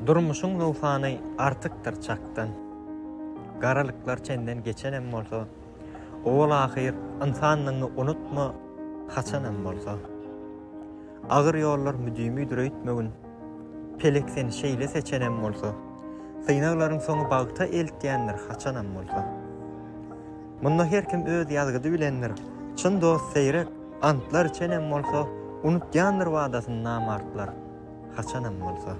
Durmuşyň nowsany artykdyr çakdan, Garalyklar çenden geçenem bolsa, Owal-ahyr ynsanlygyňy unutma, Haçanam bolsa. Agyr ýollar müdimidir öýtmegin, Pelek seni şeýle seçenem bolsa, Synaglaryň soňy bagta eltýändir, Haçanam bolsa. Munda her kim öz ýazgydy bilendir, Çyn dost seýrek antlar içenem bolsa, Unutýandyr wadasyny namartlar. haçanam bolsa.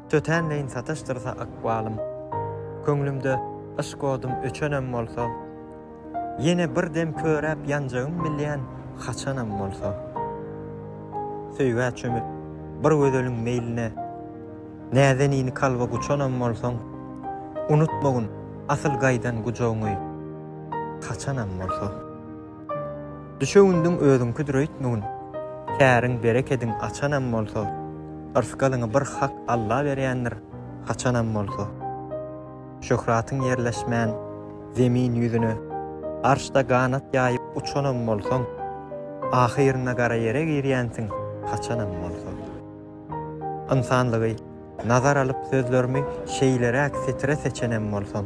Tötänleýin sataşdyrsa ykbalym, Köňlümde yşk odum öçenem bolsa, Ýene bir dem köräp ýanjagym bilýän haçanam bolsa. Söýgä çümüp, bir gözeliň meýline, Näzenini kalba guçanam bolsaň, Unutmagyn asyl gaýdan gujagyňy, haçanam bolsa. Düşewündiň özüňkidir öýtmegin, Käriň, berekediň açanam bolsa, Yrsgalyňy bir Hak Alla berýändir, Haçanam bolsa. Şöhratyň ýerleşmän Zemin ýüzüne, Arşda ganat ýaýyp uçanam bolsaň, Ahyrynda gara ýere girýänsiň, Haçanam bolsa. Ynsanlygy nazar alyp sözlerimi Şeýleräk setire seçenem bolsaň,